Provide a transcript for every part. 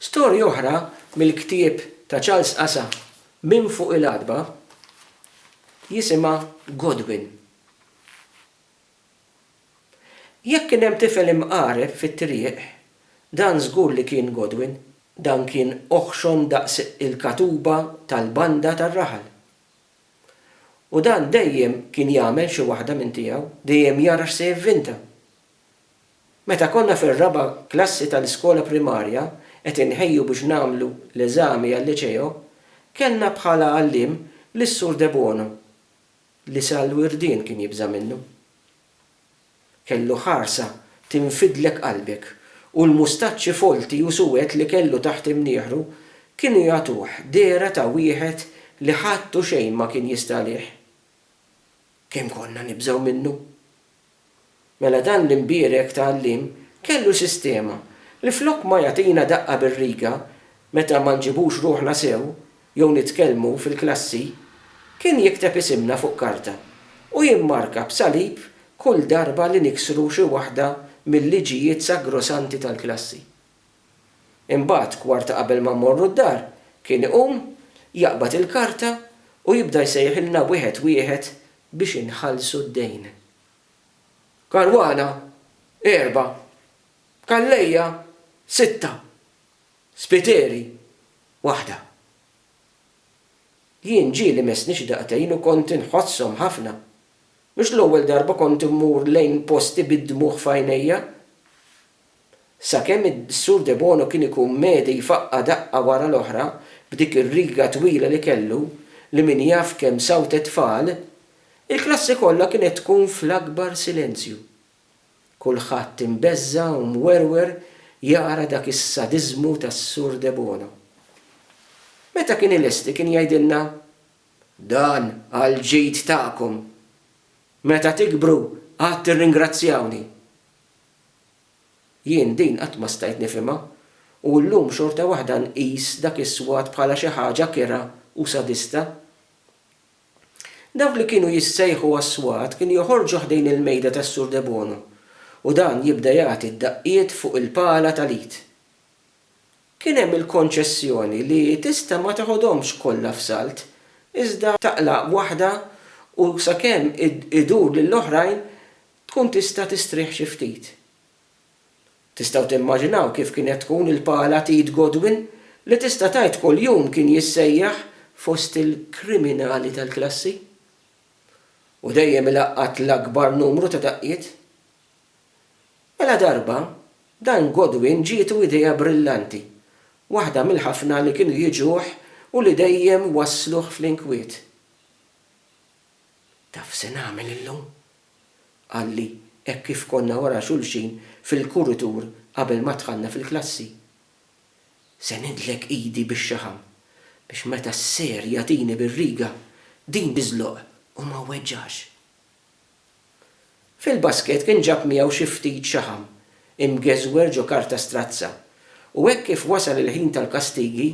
Storja oħra mill-ktieb ta' Charles Asa Min Fuq il-Għatba jisimha Godwin. Jekk kien hemm tifel imqareb fit-triq, dan żgur li kien Godwin. Dan kien oħxon daqs il-katuba tal-banda tar-raħal. U dan dejjem kien jagħmel xi waħda minn tiegħu, dejjem jara x'se jivvinta. Meta konna fir-raba' klassi tal-iskola primarja qed inħejju biex nagħmlu l-eżami għal-liċeo, kellna bħala għalliem lis-Sur Debono li sal-wirdien kien jibża' minnu. Kellu ħarsa tinfidlek qalbek u l-mustaċċi folti u suwed li kellu taħt imnieħru kienu jagħtuh dehra ta' wieħed li ħadd u xejn ma kien jista' għalih. Kemm konna nibżgħu minnu! Mela dan l-imbierek ta' għalliem kellu sistema li flok ma jagħtina daqqa bir-riga meta ma nġibux ruħna sew jew nitkellmu fil-klassi, kien jikteb isimna fuq karta u jimmarka b'salib kull darba li niksru xi waħda mil-liġijiet sagrosanti tal-klassi. Imbagħad kwarta qabel ma mmorru d-dar, kien iqum, jaqbad il-karta u jibda jsejħilna wieħed wieħed biex inħallsu d-dejn. Caruana, erbgħa. Calleja, sitta. Spiteri, waħda. Jien ġieli messni xi daqtejn u kont inħosshom ħafna. Mhux l-ewwel darba kont immur lejn posti bid-dmugħ f'għajnejja. Sakemm is-Sur Debono kien ikun medi jfaqqa' daqqa wara l-oħra b'dik ir-riga twila li kellu, li min jaf kemm sawtet tfal, il-klassi kollha kienet tkun fl-akbar silenzju. Kulħadd imbeżża' u mwerwer jara dak is-sadiżmu tas-Sur Debono. Meta kien ilesti kien jgħidilna, Dan għall-ġid tagħkom. Meta tikbru għad tirringrazzjawni. Jien din qatt ma stajt nifhimha, u llum xorta waħda nqis dak is-swat bħala xi ħaġa kerha u sadista. Dawk li kienu jissejħu għas-swat kienu joħorġu ħdejn il-mejda tas-Sur Debono u dan jibda jagħti d-daqqiet fuq il-pala tal-id. Kien hemm il-konċessjoni li tista' ma teħodhomx kollha f'salt, iżda taqla' waħda u sakemm idur lill-oħrajn Tkun tista' tistrieħ xi ftit. Tistgħu timmaġinaw kif kienet tkun il-pala t'id Godwin li tista' tgħid kuljum kien jissejjaħ fost il-kriminali tal-klassi? U dejjem ilaqqat l-akbar numru ta' daqqiet? Mela darba, dan Godwin ġietu idea brillanti, waħda mill-ħafna li kienu jiġuh u li dejjem wassluh fl-inkwiet. Taf se nagħmel illum? qalli hekk kif konna wara xulxin fil-kuritur qabel ma dħalna fil-klassi. Se nidlek idi bix-xaħam biex meta ser jagħtini bir-riga din tiżloq u ma wweġġax. Fil-basket kien ġab miegħu xi ftit xaħam imgeżwer ġo karta strazza u hekk kif wasal il-ħin tal-kastigi,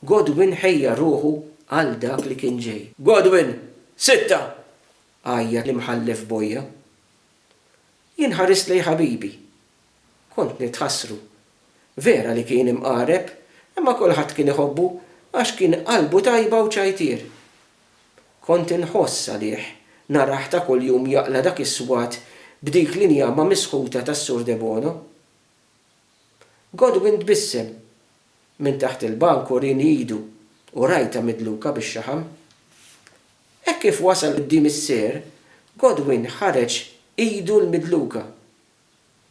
Godwin ħejja ruħu għal dak li kien ġej. Godwin, Sitta! Għajjat l-Imħallef Boja. Jien ħarist lejn ħabibi. Kont nitħassru. Vera li kien imqareb, imma kulħadd kien iħobbu għax kien qalbu tajba u ċajtier. Kont inħoss għalih narah ta' kuljum jaqla' dak is-swat b'dik l-injama misħuta tas-Sur Debono. Godwin tbissem minn taħt il-bank u rieni idu u rajtha midluka bix-xaħam. Hekk kif wasal quddiem is-Sir, Godwin ħareġ idu l-midluka.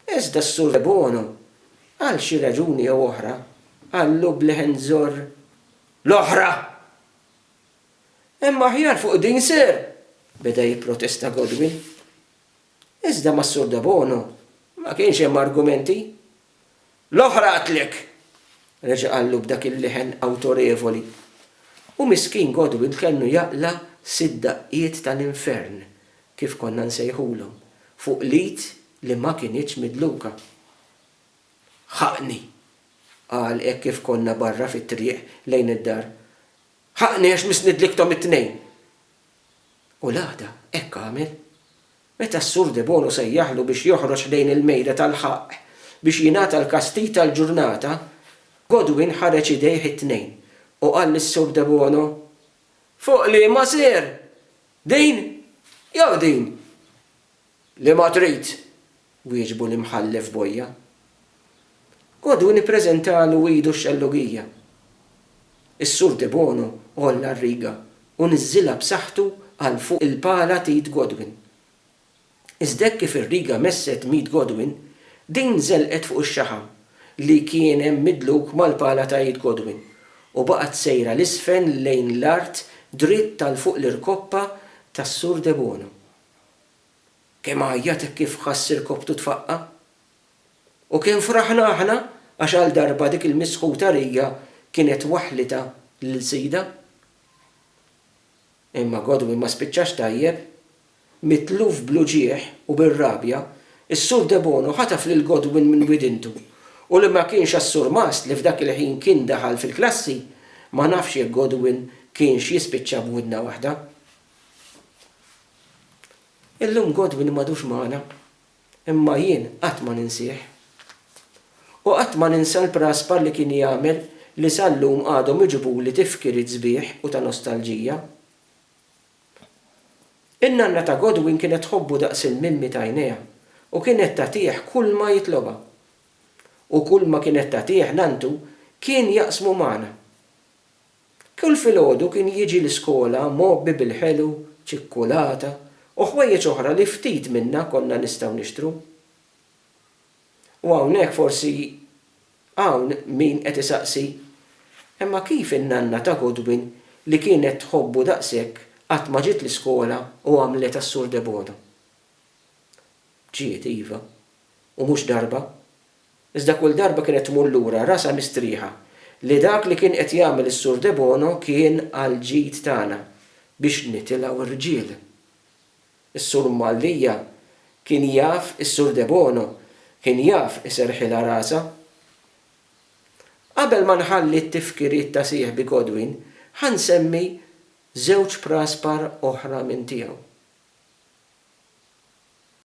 Iżda s-Sur Debono, għal xi raġuni jew oħra, qallu b'leħen żorr, L-oħra! Hemm aħjar fuq din, Sir! beda jipprotesta Godwin. Iżda mas-Sur Debono ma kienx hemm argumenti. L-oħra qatlek! reġa' qallu b'dak il-leħen awtorevoli. U miskin Godwin kellu jaqla' sitt daqqiet tal-infern, kif konna nsejħulhom, fuq l-id li ma kinitx midluka. Ħaqni! qal hekk kif konna barra fit-triq lejn id-dar. Ħaqni għax missnidlikthom it-tnejn! U l-għada hekk għamel. Meta s-Sur Debono sejjaħlu biex joħroġ lejn il-mejda tal-ħaqq biex jingħata l-kastig tal-ġurnata, Godwin ħareġ idejh it-tnejn u qal lis-Sur Debono, Fuq liema ser? Din jew din? Li ma trid! wieġbu l-Imħallef Boja. Għoduni ppreżentalu idu x-xellugija. Is-Sur Debono għolla r-riga u niżżilha b'saħħtu għal fuq il-pala t'id Godwin. Iżda hekk kif ir-riga messet m'id Godwin, din żelqet fuq ix-xaħam li kien hemm midluk mal-pala ta' id Godwin u baqgħet sejra 'l isfel lejn l-art dritt għal fuq l-irkoppa tas-Sur Debono. Kemm għajjat hekk kif ħass irkopptu tfaqqa'? U kemm fraħna aħna għax għal darba dik il-misħuta rija kienet waħħlitha lil sidha! Imma Godwin ma spiċċax tajjeb. Mitluf bl-uġigħ u bir-rabja, is-Sur Debono ħataf lil Godwin minn widintu u li ma kienx għas-surmast li f'dak il-ħin kien daħal fil-klassi, ma nafx jekk Godwin kienx jispiċċa b'widna waħda. Illum Godwin m'għadux magħna, imma jien qatt ma ninsieh. U qatt ma ninsa l-praspar li kien jagħmel li sal-lum għadhom iġibuli tifkiriet sbieħ u ta' nostalġija. In-nanna ta' Godwin kienet tħobbu daqs il-mimmi t'għajnejha u kienet tagħtih kulma jitlobha. U kulma kienet tagħtih nanntu kien jaqsmu magħna. Kull filgħodu kien jiġi l-iskola mgħobbi bil-ħelu, ċikkulata, u ħwejjeġ oħra li ftit minna konna nistgħu nixtru. U hawnhekk forsi hawn min qed isaqsi, Imma kif in-nanna ta' Godwin li kienet tħobbu daqshekk qatt ma ġiet l-iskola u għamlet għas-Sur Debono? Ġiet, iva. U mhux darba. Iżda kull darba kienet tmur lura rasha mistrieħa li dak li kien qed jagħmel is-Sur Debono kien għall-ġid tagħna biex nitilgħu rġiel. Is-Sur Mallia kien jaf is-Sur Debono kien jaf iserrħilha rasha. Qabel ma nħalli t-tifkiriet ta' sieħbi Godwin ħa nsemmi żewġ praspar oħra minn tiegħu.